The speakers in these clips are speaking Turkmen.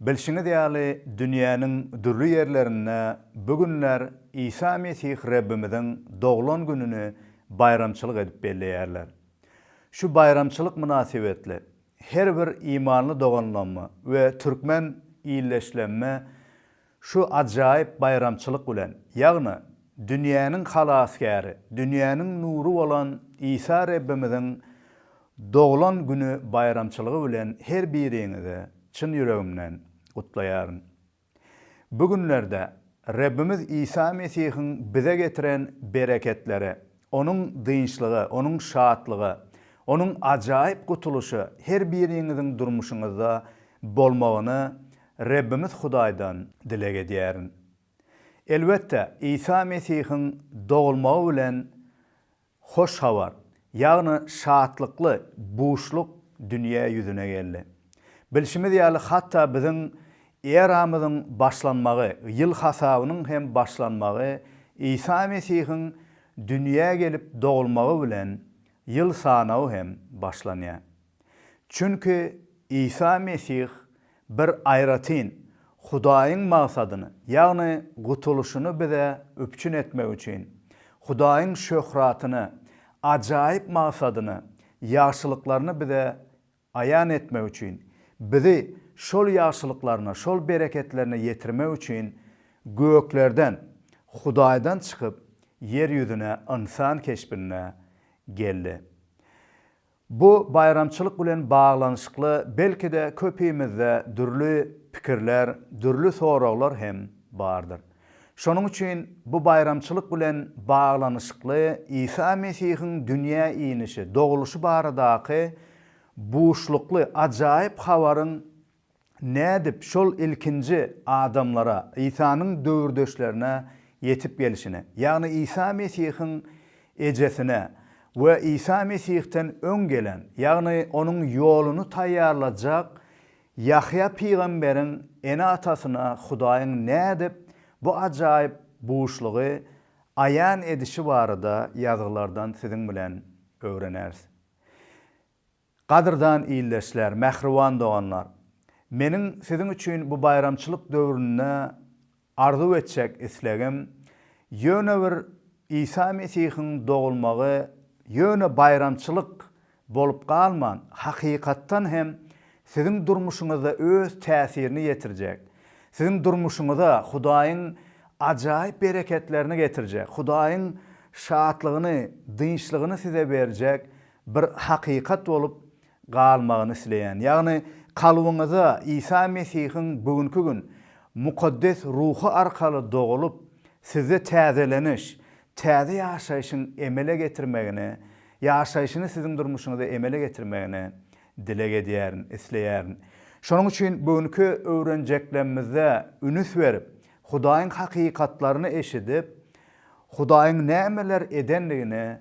Bilşiňiz ýaly, dünýäniň dürli ýerlerinde bu günler Isa Mesih Rebbimiziň doglan gününi baýramçylyk edip belleýärler. Şu baýramçylyk mynasybetli, her bir imanly doganlamme we türkmen ildeşlemme Şu ajaýyp baýramçylyk bilen, ýagny dünýäniň Halasgäri, dünýäniň nury bolan Isa Rebbimiziň doglan güni baýramçylygy bilen her biriňizi çyn ýüregimden gutlaýaryn. Bu günlerde Rebbimiz Isa Mesihiň bize getiren bereketleri Onuň dynçlygy, Onuň şatlygy, Onuň ajaýyp gutulyşy her biriňiziň durmuşyňyzda bolmagyny Rebbimiz Hudaýdan dileg edýärin. Elbetde, Isa Mesihiň dogulmagy bilen Hoş Habar, ýagny şatlykly buşluk dünýä ýüzüne geldi. Bilşimiz ýaly, hatda biziň Eramyzyň başlanmagy, ýyl hasabynyň hem başlanmagy Isa Mesihiň dünýä gelip dogulmagy bilen ýyl sanawy hem başlanýar. Çünki Isa Mesih bir aýratyn Hudaýyň magsadyny, ýagny gutulyşyny bize üpjün etmek üçin, Hudaýyň şöhratyny, ajaýyp magsadyny, ýagşylyklaryny bize aýan etmek üçin, bizi şol ýagşylyklarna, şol bereketlerine ýetirmek üçin göklerden, Hudaýdan çykyp, ýer ýüzüne ynsan keşbinde geldi. Bu baýramçylyk bilen baglanyşykly belki-de köpimizde dürli pikirler, dürli soraglar hem bardyr. Şonuň üçin bu baýramçylyk bilen baglanyşykly Isa Mesihiň dünýä inişi, dogulyşy baradaky buşlukly ajaýyp habaryň nädip şol ilkinji adamlara, Isanyň döwürdeşlerine ýetip gelşini, ýagny Isa Mesihiň ejesine we Isa Mesihden öň gelen, ýagny onuň ýoluny taýýarlajak Ýahýa pygamberiň ene-atasyna Hudaýyň nädip bu ajaýyp buşlugy aýan edişi barada Ýazgylardan siziň bilen öwreneris. Gadyrdan ildeşler, mähriban doganlar! Meniň siziň üçin bu baýramçylyk döwründe Arzuw etjek islegim, ýöne bir Isa Mesihiň dogulmagy ýöne baýramçylyk bolup galman, hakykatdan hem siziň durmuşyňyzda öz täsirini ýetirjek, siziň durmuşyňyza Hudaýyň ajaýyp bereketlerini getirjek, Hudaýyň şatlygyny, dynçlygyny size berjek bir hakykat bolup galmagyny isleýän, ýagny kalbyňyza Isa Mesihiň bu günki gün Mukaddes Ruhy arkaly dogulyp, sizde täzeleniş, täze ýaşaýşyň emele getirmegini, ýaşaýşyny siziň durmuşyňyza emele getirmegini dileg edýärin, isleýärin. Şonuň üçin bu günki öwrenjeklerimizde ünüs berip, Hudaýyň hakykatlaryny eşidip, Hudaýyň nämeler edendigini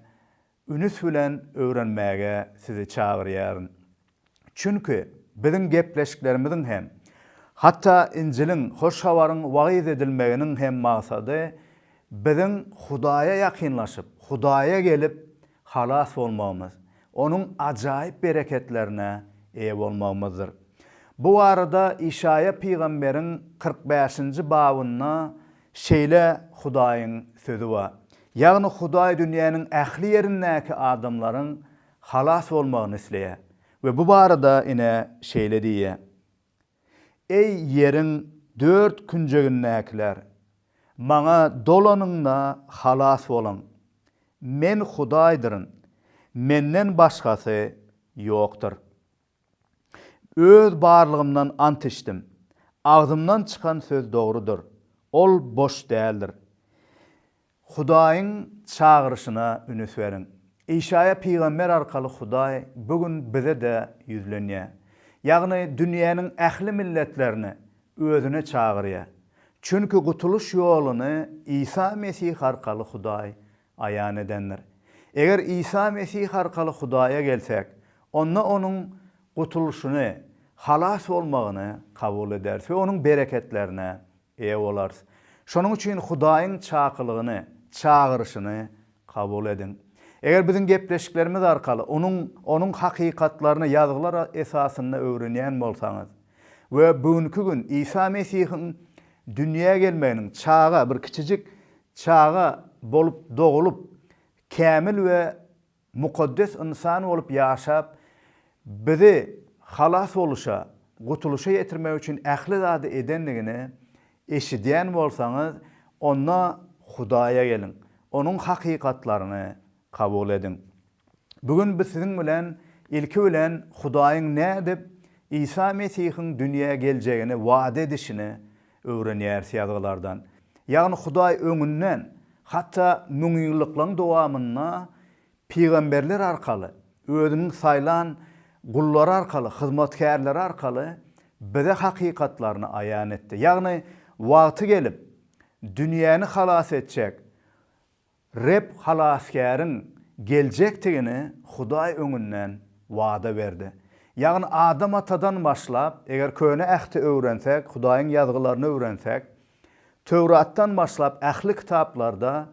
Ünüs bilen öwrenmäge sizi çagyrýaryn. Çünki biziň gepleşiklerimiziň hem, hatda Injiliň, Hoş Habaryň wagyz edilmeginiň hem maksady biziň Hudaýa ýakynlaşyp, Hudaýa gelip, halas bolmagymyz, Onuň ajaýyp bereketlerine eýe bolmagymyzdyr. Bu barada Işaýa pygamberiň kyrk bäşinji babynda Şeýle Hudaýyň sözi bar. Ýagny Hudaý dünýäniň ähli ýerindäki adamlaryň halas bolmagyny isleýär we bu barada ine şeýle diýýär, Eý ýeriň dört künjegindäkiler, Maňa dolanyňda halas boluň. Men Hudaýdyryn, Menden başgasy ýokdur. Öz barlygymdan ant içdim. Agzymdan çykan söz dogrudyr. Ol boş däldir. Hudaýyň çagyryşyna ünüs beriň. Işaýa pygamber arkaly Hudaý bu gün bize-de ýüzlenýär. Ýagny dünýäniň ähli milletlerini Özüne çagyrýar. Çünki gutulyş ýoluny Isa Mesih arkaly Hudaý aýan edendir. Eger Isa Mesih arkaly Hudaýa gelsek, onda Onuň gutulyşyny, halas bolmagyny kabul ederis we Onuň bereketlerine eýe bolarys. Şonuň üçin Hudaýyň çakylygyny, çagyryşyny kabul ediň. Eger biziň gepleşiklerimiz arkaly Onuň Onuň hakykatlaryny Ýazgylar esasynda öwrenýän bolsaňyz we bu günki gün Isa Mesihiň Dünýä gelmeginiň çaga, bir kiçijik çaga bolup dogulyp, kämil we mukaddes ynsan bolup ýaşap, bizi halas boluşa, gutulyşa ýetirmek üçin ähli zady edendigini eşidýän bolsaňyz, onda Hudaýa geliň, Onuň hakykatlaryny, Kabul ediň. Bu gün biz siziň bilen ilki bilen Hudaýyň nädip Isa Mesihiň dünýä geljegini wada edişini öwrenýäris Ýazgylardan. Ýagny Hudaý öňünden, hatda müňýyllyklaryň dowamynda pygamberler arkaly, özüniň saýlan gullary arkaly, hyzmatkärleri arkaly bize hakykatlaryny aýan etdi. Ýagny wagty gelip, dünýäni halas etjek Reb halasgäriň geljekdigini Hudaý öňünden wada berdi. Ýagny Adam atadan başlap, eger Köne Ähti öwrensek, Hudaýyň Ýazgylaryny öwrensek, Töwratdan başlap ähli kitaplarda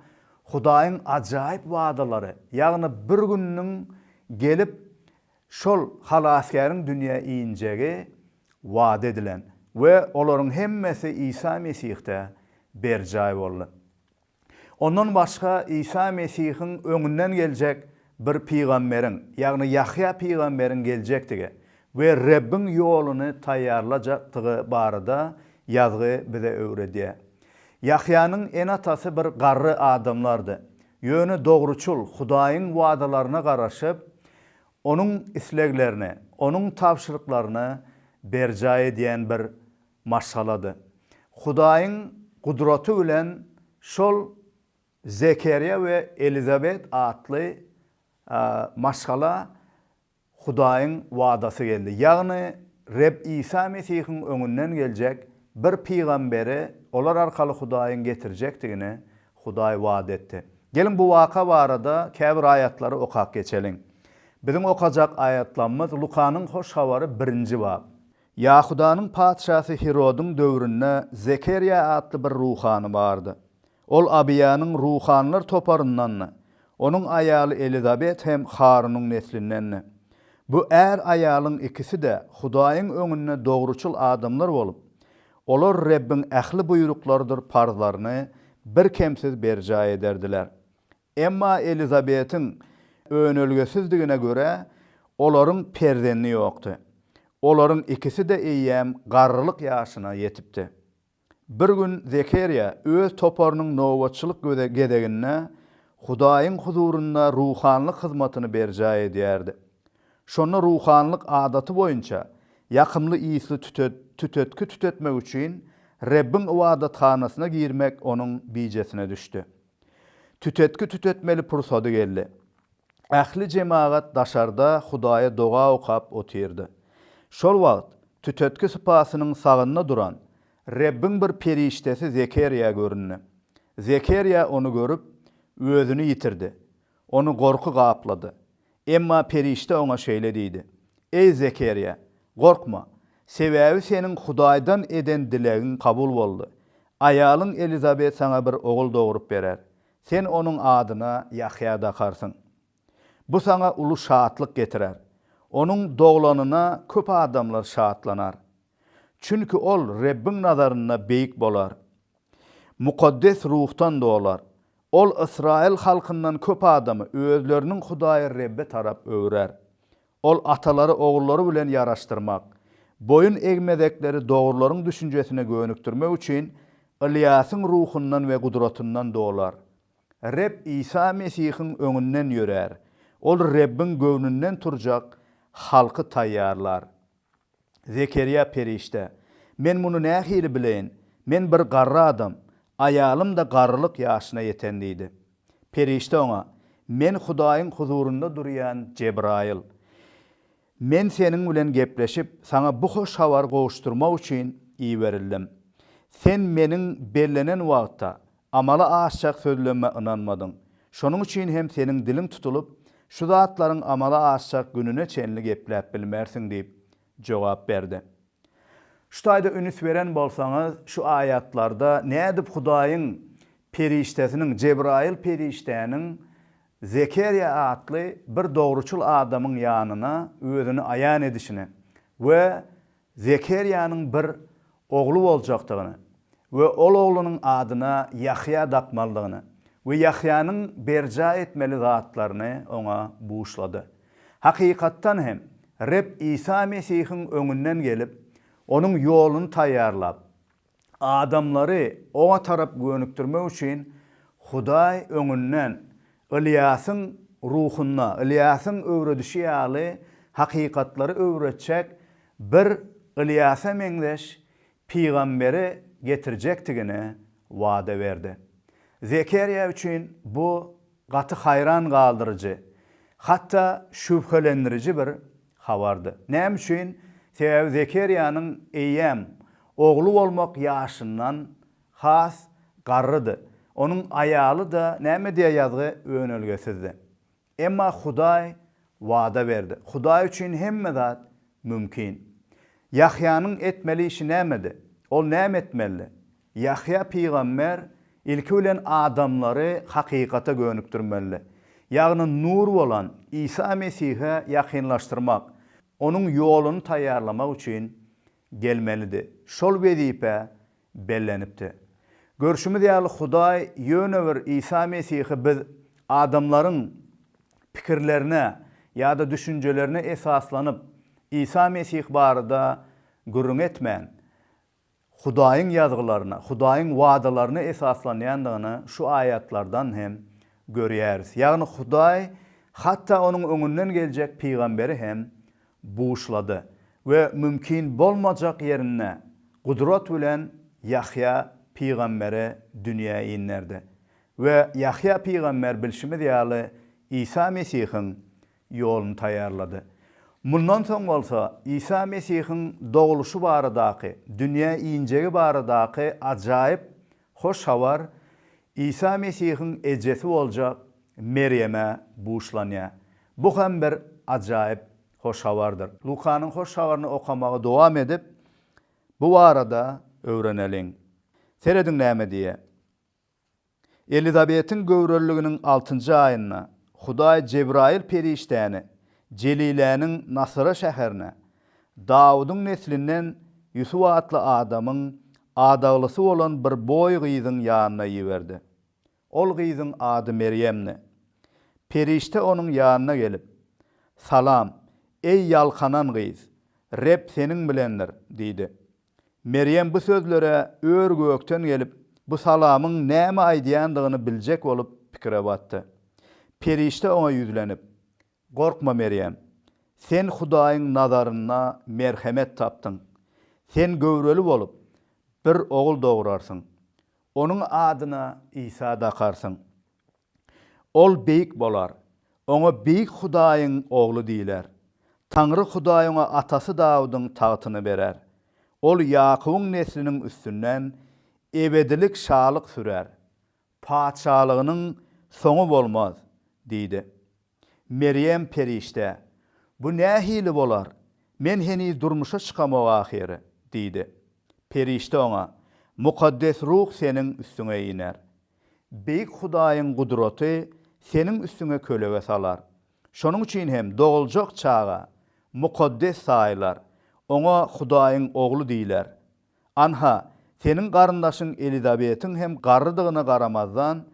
Hudaýyň ajaýyp wadalary, ýagny bir gününiň gelip şol halasgäriň dünýä injegi wada edilen we olaryň hemmesi Isa Mesihde berjaý boldy. Ondan başga Isa Mesihiň öňünden geljek bir pygamberiň, ýagny Ýahýa pygamberiň geljekdigi we Rebbiň ýoluny taýýarlajakdygy barada ýazgy bize öwredýär. Ýahýanyň ene-atasy bir garry adamlardy, ýöne dogruçyl, Hudaýyň wadalaryna garaşyp, Onuň isleglerini, Onuň tabşyryklaryny berjaý edýän bir Maşgalady. Hudaýyň gudraty bilen şol Zekerýa we Elizabet atly maşgala Hudaýyň wadasy geldi. Ýagny Reb Isa Mesihiň öňünden geljek bir pygamberi olar arkaly Hudaýyň getirjekdigini Hudaý wada etdi. Geliň bu waka barada käbir aýatlary okap geçeliň. Biziň okajak aýatlamyz Lukanyň Hoş Habary birinji bap. Ýahudanyň patyşasy Hirodyň döwründe Zekerýa atly bir ruhany bardy. Ol Abyýanyň ruhanylar toparyndandy. Onuň aýaly Elizabet hem Harunyň neslindendi. Bu är-aýalyň ikisi-de Hudaýyň öňünde dogruçyl adamlar bolup, olar Rebbiň ähli buýruklarydyr parzlaryny birkemsiz berjaý ederdiler. Emma Elizabetiň önelgesizdigine görä, olaryň perzendi ýokdy. Olaryň ikisi-de eýýäm garrylyk ýaşyna ýetipdi. Bir gün Zekeriýa öz toparynyň nobatçylyk gezeginde Hudaýyň huzurynda ruhanylyk hyzmatyny berjaý edýärdi. Şonda ruhanylyk adaty boýunça ýakymly ysly tütetgi tütetmek üçin Rebbiň ybadathanasyna girmek onuň bijesine düşdi. Tütetgi tütetmeli pursady geldi. Ähli jemagat daşarda Hudaýa doga okap otyrdy. Şol wagt tütetgi sypasynyň sagynda duran Rebbiň bir perişdesi Zekerýa göründi. Zekerýa ony görüp, özüni ýitirdi. Ony gorky gaplady. Emma perişde oňa şeýle diýdi, Eý, Zekerýa, gorkma, sebäbi seniň Hudaýdan eden dilegiň kabul boldy. Aýalyň Elizabet saňa bir ogul dogrup berer. Sen onuň adyna Ýahýa dakarsyň. Bu saňa uly şatlyk getirer. Onuň doglanyna köp adamlar şatlanar. Çünki ol Rebbiň nazarynda beýik bolar. Mukaddes ruhdan dolar. Ol ysraýyl halkyndan köp adamy özleriniň Hudaýy Rebbe tarap öwrer. Ol atalary ogullary bilen ýaraşdyrmak, boýun egmezekleri dogrularyň düşünjesine gönükdirmek üçin Ylýasyň ruhundan we gudratyndan dolar. Reb Isa Mesihiň öňünden ýörär. Ol Rebbiň göwnünden turjak halky taýýarlar. Zekerýa perişde, Men muny nähili bileýin? Men bir garry adam, aýalym-da garrylyk ýaşyna ýeten diýdi. Perişde oňa, Men Hudaýyň huzurynda durýan Jebraýyl. Men seniň bilen gepleşip, saňa bu hoş habary gowuşdyrmak üçin iberildim. Sen meniň bellenen wagtda Amala aşjak sözleme ynanmadyň. Şonuň üçin hem seniň diliň tutulyp, şu zatlaryň amala aşjak gününe çenli gepläp bilmersiň diýip, jogap berdi. Şu taýda ünüs beren bolsaňyz, şu aýatlarda nädip Hudaýyň perişdesiniň, Jebraýyl perişdäniň Zekerýa atly bir dogruçyl adamyň ýanyna özüni aýan edişini we Zekerýanyň bir ogly boljakdygyny we ol oglunyň adyna Ýahýa dakmalydygyny we Ýahýanyň berjaý etmeli zatlaryny oňa buşlady. Hakykatdan hem, Reb Isa Mesihiň öňünden gelip, Onuň ýoluny taýýarlap, Adamlary Oňa tarap gönükdirmek üçin Hudaý öňünden Ylýasyň ruhunda, Ylýasyň öwredişi ýaly hakykatlary öwretjek bir Ylýasa meňzeş pygamberi getirjekdigini wada berdi. Zekerýa üçin bu Gaty haýran galdyryjy, hatda şübhelendiriji bir habardy. Näme üçin? Sebäbi Zekeriýanyň eýýäm ogly bolmak ýaşyndan has garrydy. Onuň aýaly-da näme diýýär ýazgy, önelgesizdi. Emma Hudaý wada berdi. Hudaý üçin hemme zat mümkin. Ýahýanyň etmeli işi nämedi? Ol näme etmelidi? Ýahýa pygamber ilki bilen adamlary hakykata gönükdirmeli, ýagny nur bolan Isa Mesihe ýakynlaşdyrmak, onuň ýoluny taýýarlamak üçin gelmelidi. Şol wezipä bellenipdi. Görşümiz ýaly Hudaý ýöne bir Isa Mesihi biz adamlaryň pikirlerine ýa-da düşünjelerine esaslanyp Isa Mesih barada gürrüň etmän, Hudaýyň ýazgylaryna, Hudaýyň wadalaryna esaslanýandygyny şu aýatlardan hem görýäris. Ýagny Hudaý hatda onuň öňünden geljek pygamberi hem buşlady we mümkin bolmajak ýerinde gudrat bilen Ýahýa pygamberi dünýä inderdi. We Ýahýa pygamber bilşimiz ýaly Isa Mesihiň ýoluny taýýarlady. Mundan soň bolsa Isa Mesihiň dogluşy baradaky, dünýä injegi baradaky ajaýyp hoş habar Isa Mesihiň ejesi boljak Merýeme buşlanýar. Bu hem bir ajaýyp hoş habardyr. Lukanyň Hoş Habaryny okamagy dowam edip, bu barada öwreneliň. Serediň näme diýýär. Elizabetiň göwreliliginiň altynjy aýynda Hudaý Jebraýyl perişdäni Jeliläniň Nasyra şäherine, Dawudyň neslinden Ýusup atly adamyň adaglysy bolan bir boý gyzyň ýanyna iberdi. Ol gyzyň ady Merýemdi. Perişde onuň ýanyna gelip, Salam, eý ýalkanan gyz! Reb seniň bilendir! diýdi. Merýem bu sözlere ör-gökden gelip, bu salamyň näme aýdýandygyny biljek bolup pikire batdy. Perişde oňa ýüzlenip, Gorkma, Merýem! Sen Hudaýyň nazarynda merhemet tapdyň. Sen göwreli bolup, bir ogul dograrsyň. Onuň adyna Isa dakarsyň. Ol beýik bolar. Oňa Beýik Hudaýyň Ogly diýler. Taňry Hudaý oňa atasy Dawudyň tagtyny berer. Ol Ýakubyň nesliniň üstünden ebedilik şalyk sürer. Patyşalygynyň soňy bolmaz diýdi. Merýem perişde, Bu nähili bolar? Men heniz durmuşa çykamok ahyry, diýdi. Perişde oňa, Mukaddes Ruh seniň üstüňe iner. Beýik Hudaýyň gudraty seniň üstüňe kölege salar. Şonuň üçin hem doguljak çaga mukaddes saýylar, oňa Hudaýyň Ogly diýler. Anha, seniň garyndaşyň Elizabetiň hem garrydygyna garamazdan,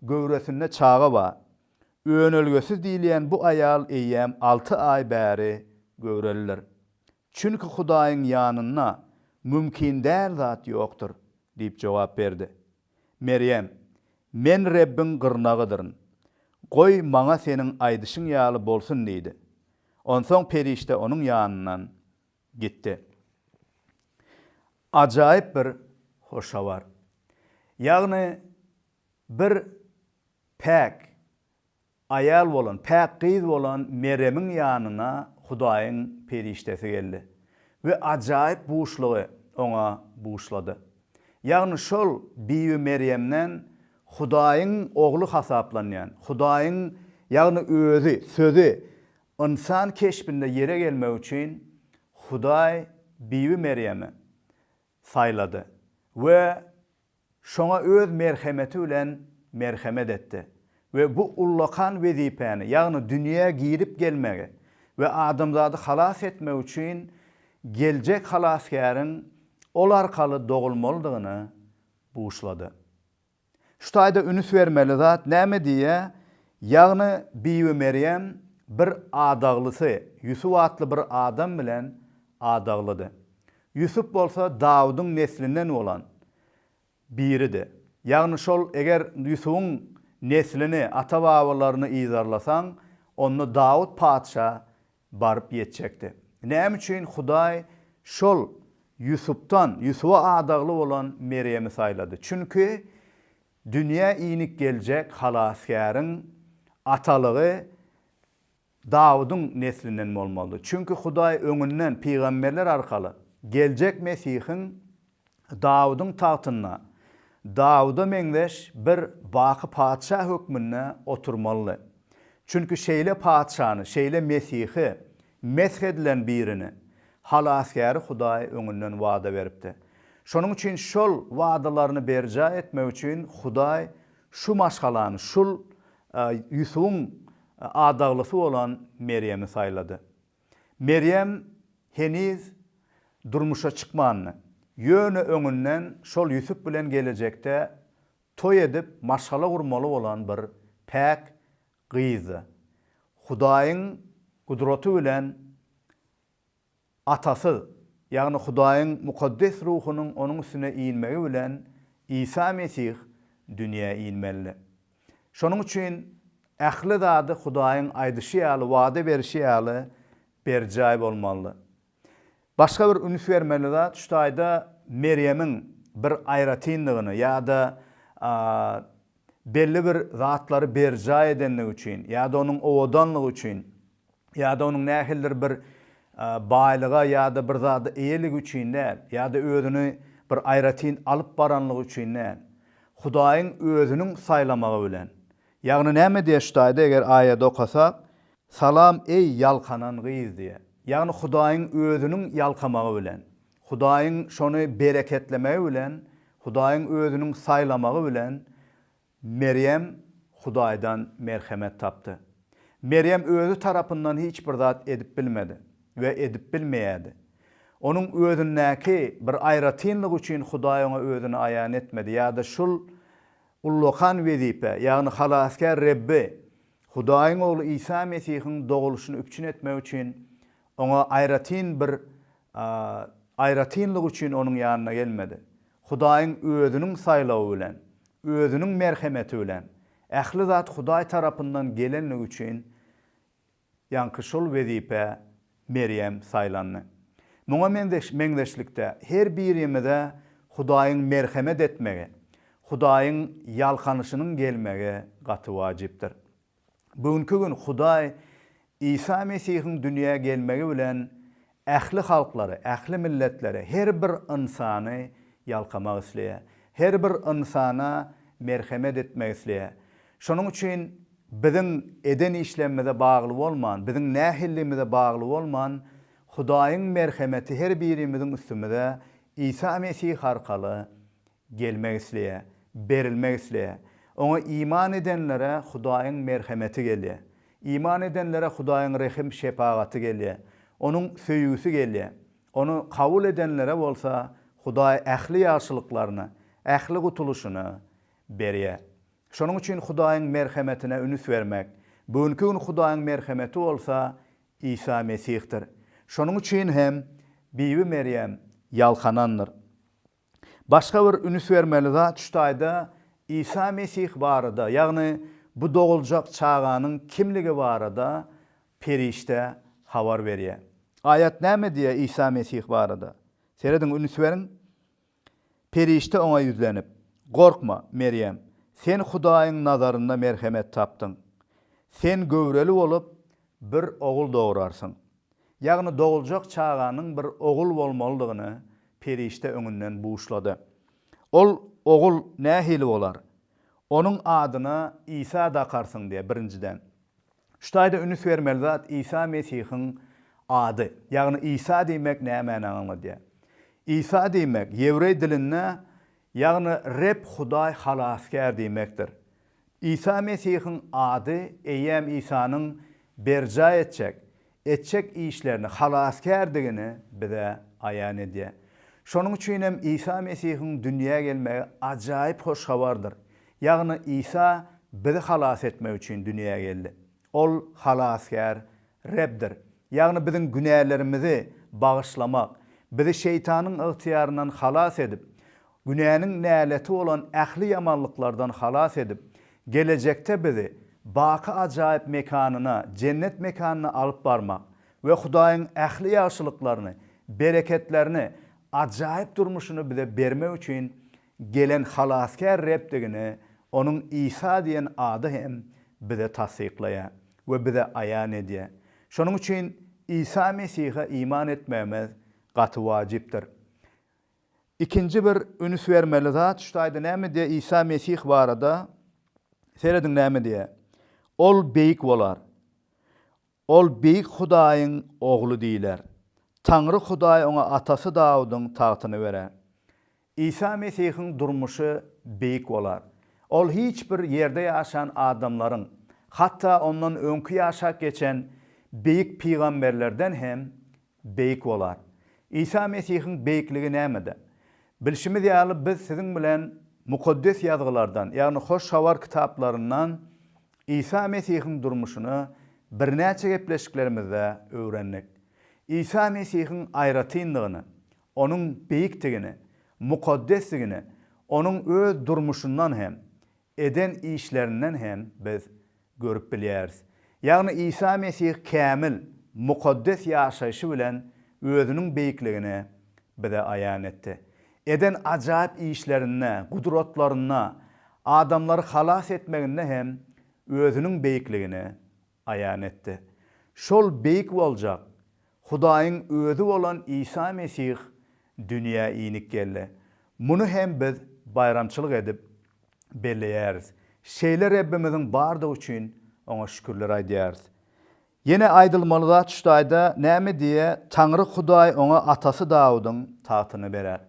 göwresinde çaga bar. Önelgesiz diýilýän bu aýal eýýäm alty aý bäri göwrelidir. Çünki Hudaýyň ýanynda mümkin däl zat ýokdur diýip jogap berdi. Merýem, Men Rebbiň gyrnagydyryn. Goý, maňa seniň aýdyşyň ýaly bolsun diýdi. Onsoň perişde onuň ýanyndan gitdi. Ajaýyp bir hoş habar. Ýagny Bir päk aýal bolan, päk gyz bolan Meremiň ýanyna Hudaýyň perişdesi geldi we ajaýyp buşlugy oňa buşlady. Ýagny şol Bibi Merýemden Hudaýyň Ogly hasaplanýan, Hudaýyň, ýagny Özi, Sözi, ynsan keşbinde ýere gelmek üçin Hudaý Bibi Merýeme saýlady we şoňa öz merhemeti bilen merhemet etdi we bu ullakan wezipäni, ýagny dünýä girip gelmegi we adamzady halas etmek üçin geljek Halasgäriň ol arkaly dogulmalydygyny buşlady. Şu taýda ünüs bermeli zat näme diýýä, ýagny Bibimeryem bir adaglysy Ýusup atly bir adam bilen adaglydy. Ýusup bolsa Dawudyň neslinden bolan biridi. Ýagny şol eger Ýusubyň neslini, ata-babalaryny yzarlasaň, onda Dawut patyşa baryp ýetjekdi. Näme üçin Hudaý şol Ýusupdan, Ýusuba adagly bolan Merýemi saýlady? Çünki dünýä inik geljek Halasgäriň atalygy Dawudyň neslinden bolmalydy. Çünki Hudaý öňünden pygamberler arkaly geljek Mesihiň Dawudyň tagtynda Dawuda meňzeş bir baky patyşa hökmünde oturmalydy. Çünki şeýle patyşany, şeýle Mesihi, mesh edilen birini, Halasgäri Hudaý öňünden wada beripdi. Şonuň üçin şol wadalaryny berjaý etmek üçin Hudaý şu maşgalany, şul Ýusubyň adaglysy bolan Merýemi saýlady. Merýem heniz durmuşa çykmandy. Ýöne öňünden şol Ýusup bilen gelejekde toý edip maşgala gurmaly bolan bir päk gyzdy. Hudaýyň gudraty bilen atasyz, ýagny Hudaýyň mukaddes ruhunyň onuň üstüne inmegi bilen Isa Mesih dünýä inmelidi. Şonuň üçin ähli zady Hudaýyň aýdyşy ýaly, wada berişi ýaly berjaý bolmaly. Başga bir üns bermeli zat şu taýda Merýemiň bir aýratynlygyny ýa-da belli bir zatlary berjaý edendigi üçin ýa-da onuň owadanlygy üçin ýa-da onuň nähilidir bir baýlyga ýa-da bir zada eýeligi üçin däl, ýa-da özüni bir aýratyn alyp baranlygy üçin däl, Hudaýyň Özüniň saýlamagy bilen. Ýagny näme diýýär şu taýda eger aýady okasak, Salam, eý, ýalkanan gyz! diýýär. Ýagny Hudaýyň Özüniň ýalkamagy bilen, Hudaýyň şony bereketlemegi bilen, Hudaýyň Özüniň saýlamagy bilen, Merýem Hudaýdan merhemet tapdy. Merýem özi tarapyndan hiç bir zat edip bilmedi we edip bilmeýärdi. Onuň özündäki bir aýratynlygy üçin Hudaý oňa özüni aýan etmedi ýa-da şul ullakan wezipä, ýagny Halasgär Rebbi, Hudaýyň Ogly Isa Mesihiň dogulyşyny üpjün etmek üçin oňa aýratyn bir aýratynlygy üçin onuň ýanyna gelmedi. Hudaýyň Özüniň saýlawy bilen, Özüniň merhemeti bilen, ähli zat Hudaý tarapyndan gelenligi üçin ýaňky şol wezipä Merýem saýlandy. Muňa meňzeş meňzeşlikde, her birimize Hudaýyň merhemet etmegi, Hudaýyň ýalkanyşynyň gelmegi gaty wajypdyr. Bu günki gün Hudaý Isa Mesihiň dünýä gelmegi bilen ähli halklary, ähli milletleri, her bir ynsany ýalkamak isleýär. Her bir ynsana merhemet etmek isleýär. Şonuň üçin biziň eden işlerimize bagly bolman, biziň nähilligimize bagly bolman, Hudaýyň merhemeti her birimiziň üstümize Isa Mesih arkaly Gelmek isleýär. Berilmek isleýär. Oňa iman edenlere Hudaýyň merhemeti gelýär. Iman edenlere Hudaýyň rehim-şepagaty gelýär. Onuň söýgüsi gelýär. Ony kabul edenlere bolsa Hudaý ähli ýagşylyklaryny, ähli gutulyşyny berýär. Şonuň üçin Hudaýyň merhemetine ünüs bermek. Bu günki gün Hudaýyň merhemeti bolsa Isa Mesihdir. Şonuň üçin hem Bibi Merýem ýalkanandyr. Başga bir ünüs bermeli zat şu taýda Isa Mesih barada, ýagny bu doguljak çaganyň kimligi barada perişde habar berýär. Aýat näme diýýär Isa Mesih barada? Serediň, ünüs beriň. Perişde oňa ýüzlenip, Gorkma, Merýem, sen Hudaýyň nazarynda merhemet tapdyň. Sen göwreli bolup, bir ogul dograrsyň. Ýagny doguljak çaganyň bir ogul bolmalydygyny perişde öňünden buşlady. Ol ogul nähili bolar? Onuň adyna Isa dakarsyň diýýär, birinjiden. Şu taýda ünüs bermeli zat Isa Mesihiň ady. Ýagny Isa diýmek nämäni aňladýar? Isa diýmek ýewreý dilinde Ýagny Reb Hudaý Halasgär diýmekdir. Isa Mesihiň ady eýýäm Isanyň berjaý etjek, etjek işlerini, Halasgärdigini bize aýan edýär. Şonuň üçin hem Isa Mesihiň dünýä gelmegi ajaýyp hoş habardyr. Ýagny Isa bizi halas etmek üçin dünýä geldi. Ol Halasgär Rebdir. Ýagny biziň günälerimizi bagyşlamak, bizi şeýtanyň ygtyýaryndan halas edip, günäniň näleti bolan ähli ýamanlyklardan halas edip, gelejekde bizi baky ajaýyp mekanyna, jennet mekanyna alyp barmak we Hudaýyň ähli ýagşylyklaryny, bereketlerini, ajaýyp durmuşyny bize bermek üçin gelen Halasgär Rebdigini Onuň Isa diýen ady hem bize tassyklaýar. we bize aýan edýär. Şonuň üçin Isa Mesihe iman etmegimiz gaty wajypdyr. Ikinji bir üns bermeli zat şu taýda näme diýýär Isa Mesih barada? Serediň näme diýýär? Ol beýik bolar. Ol Beýik Hudaýyň Ogly diýler. Taňry Hudaý oňa atasy Dawudyň tagtyny berer. Isa Mesihiň durmuşy beýik bolar. Ol hiç bir ýerde ýaşan adamlaryň, hatda ondan öňki ýaşap geçen beýik pygamberlerden hem beýik bolar. Isa Mesihiň beýikligi nämede? Bilşimiz ýaly, biz siziň bilen Mukaddes Ýazgylardan, ýagny Hoş Habar kitaplaryndan Isa Mesihiň durmuşyny birnäçe gepleşiklerimizde öwrendik. Isa Mesihiň aýratyndygyny, Onuň beýikdigine, mukaddesdigine, Onuň öz durmuşyndan hem, eden işlerinden hem biz görüp bilýäris. Ýagny Isa Mesih kämil, mukaddes ýaşaýşy bilen Özüniň beýikligini bize aýan etdi. Eden ajaýyp işlerinde, gudratlarynda, adamlary halas etmeginde hem Özüniň beýikligini aýan etdi. Şol beýik boljak Hudaýyň Özi bolan Isa Mesih dünýä inip geldi. Muny hem biz baýramçylyk edip belleýäris. Şeýle Rebbimiziň bardygy üçin Oňa şükürler aýdýarys. Ýene aýdylmaly zat şu taýda, näme diýýär, Taňry Hudaý oňa atasy Dawudyň tagtyny berer.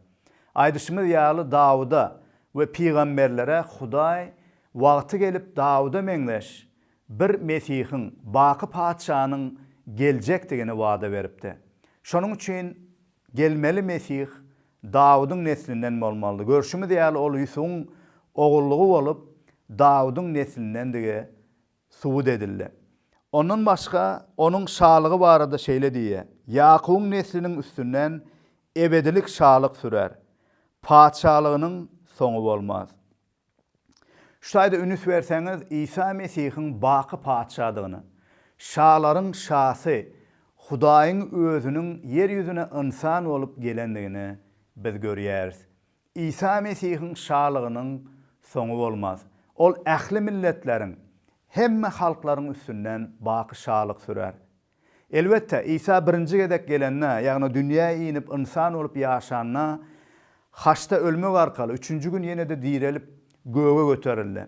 Aýdyşymyz ýaly Dawuda we pygamberlere Hudaý wagty gelip Dawuda meňzeş bir Mesihiň, baky Patyşanyň geljekdigini wada beripdi. Şonuň üçin gelmeli Mesih Dawudyň neslinden bolmalydy. Görşümiz ýaly, ol Ýusubyň ogullygy bolup, Dawudyň neslindendigi subut edildi. Ondan başga, onuň şalygy barada şeýle diýýär, Ýakubyň nesliniň üstünden ebedilik şalyk sürär, patyşalygynyň soňy bolmaz. Şu taýda ünüs berseňiz, Isa Mesihiň baky Patyşadygyna, şalaryň Şasy, Hudaýyň Özüniň ýer ýüzüne ynsan bolup gelendigini biz görýäris. Isa Mesihiň şalygynyň soňy bolmaz. Ol ähli milletleriň, hemme halklaryň üstünden baky şalyk sürer. Elbetde, Isa birinji gezek gelende, ýagny dünýä inip ynsan bolup ýaşanda, haçda ölmek arkaly, üçünji gün ýene-de direlip, göge göterildi.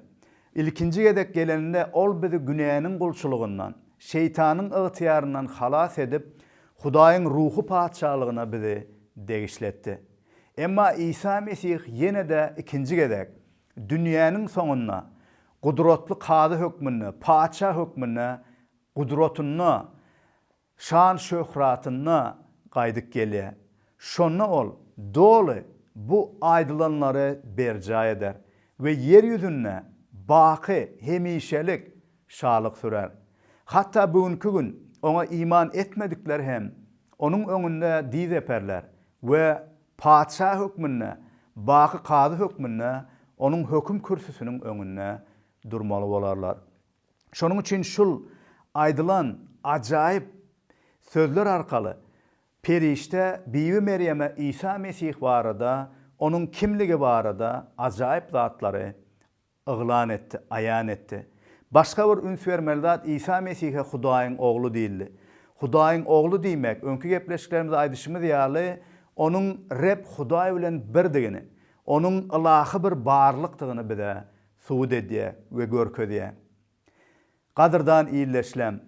Ilkinji gezek gelende ol bizi günäniň gulçulygyndan, Şeýtanyň ygtyýaryndan halas edip, Hudaýyň ruhy patyşalygyna bizi degişli etdi. Emma Isa Mesih ýene-de ikinji gezek, dünýäniň soňunda, gudratly Kazy hökmünde, Patyşa hökmünde Gudratynda, şan-şöhratynda gaýdyp gelýär. Şonda Ol doly bu aýdylanlary berjaý eder we ýer ýüzünde baky, hemişelik şalyk sürer. Hatda bu günki gün Oňa iman etmedikler hem Onuň öňünde dyz eperler we Patyşa hökmünde, baky Kazy hökmünde Onuň höküm kürsüsiniň öňünde durmaly bolarlar. Şonuň üçin şul aýdylan ajaýyp sözler arkaly perişde Bibi Merýeme Isa Mesih barada, onuň kimligi barada ajaýyp zatlary yglan etdi, aýan etdi. Başga bir üns bermeli zat Isa Mesihe Hudaýyň Ogly diýildi. Hudaýyň Ogly diýmek, öňki gepleşiklerimizde aýdyşymyz ýaly, onuň Reb Hudaý bilen birdigini, onuň ylahy bir barlykdygyny bize subut edýär we görkezýär. Gadyrdan ildeşlem!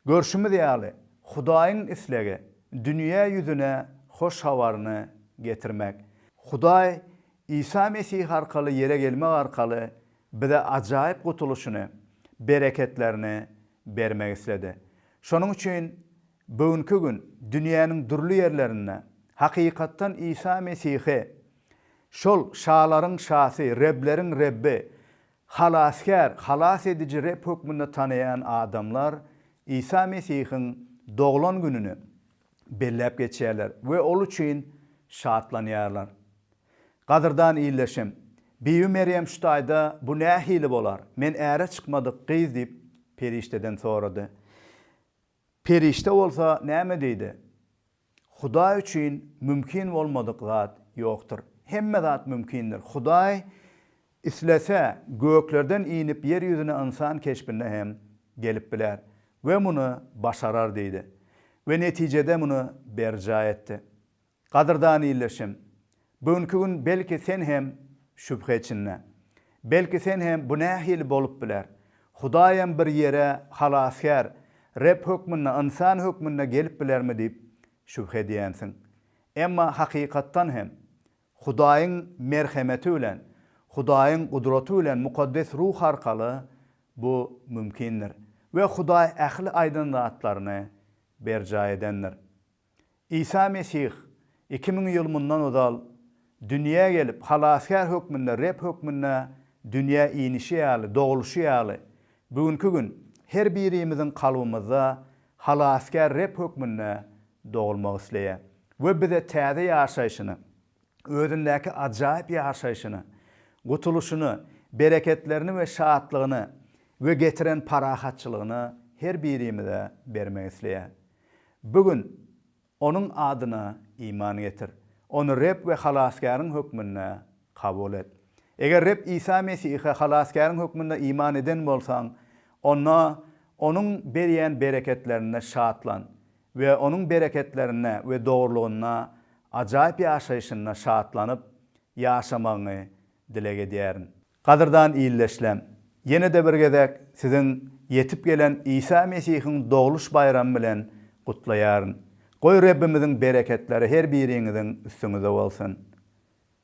Görşümiz ýaly, Hudaýyň islegi, dünýä ýüzüne hoş habaryny getirmek. Hudaý Isa Mesih arkaly ýere gelmek arkaly bize ajaýyp gutulyşyny, bereketlerini bermek isledi. Şonuň üçin Bu günki gün dünýäniň dürli ýerlerinde hakykatdan Isa Mesihi şol şalaryň Şasy, Rebleriň Rebbi, Halasgär, Halas ediji Reb hökmünde tanaýan adamlar Isa Mesihiň doglan gününi belläp geçýärler we ol üçin şatlanýarlar. Gadyrdan ildeşim, Bibi Merýem şu taýda bu nähili bolar, men äre çykmadyk gyz diýip, perişdeden sorady. Perişde bolsa näme diýdi? Hudaý üçin mümkin bolmadyk zat ýokdur. Hemme zat mümkindir. Hudaý islese, göklerden inip ýer ýüzüne ynsan keşbinde hem gelip biler we muny başarar diýdi we netijede muny berjaý etdi. Gadyrdan ildeşim, bu günki gün belki sen hem şübhe içinde. Belki sen hem bu nähili bolup biler? Hudaýam bir ýere halasgär, Reb hökmünde, ynsan hökmünde gelip bilermi diýip şübhe edýänsiň. Emma hakykatdan hem, Hudaýyň merhemeti bilen, Hudaýyň gudraty bilen mukaddes ruh arkaly bu mümkindir we Hudaý ähli aýdan zatlaryny berjaý edendir. Isa Mesih iki müň ýyl mundan ozal dünýä gelip, Halasgär hökmünde, Reb hökmünde dünýä inişi ýaly, dogulyşy ýaly, bu günki gün her birimiziň kalbymyzda Halasgär Reb hökmünde dogulmagy isleýär we bize täze ýaşaýşyny, özündäki ajaýyp ýaşaýşyny, gutulyşyny, bereketlerini we şatlygyny we getiren parahatçylygyny her birimize bermek isleýär. Bu gün Onuň adyna iman getir. Ony Reb we Halasgäriň hökmünde kabul et. Eger Reb Isa Mesihe Halasgäriň hökmünde iman eden bolsaň, onda Onuň berýän bereketlerinde şatlan we Onuň bereketlerinde we dogrulygynda, ajaýyp ýaşaýşynda şatlanyp ýaşamagyňy dileg edýärin. Gadyrdan ildeşlem, ýene-de bir gezek siziň ýetip gelen Isa Mesihiň dogluş baýramy bilen gutlaýaryn. Goý, Rebbimiziň bereketleri her biriňiziň üstüňize bolsun!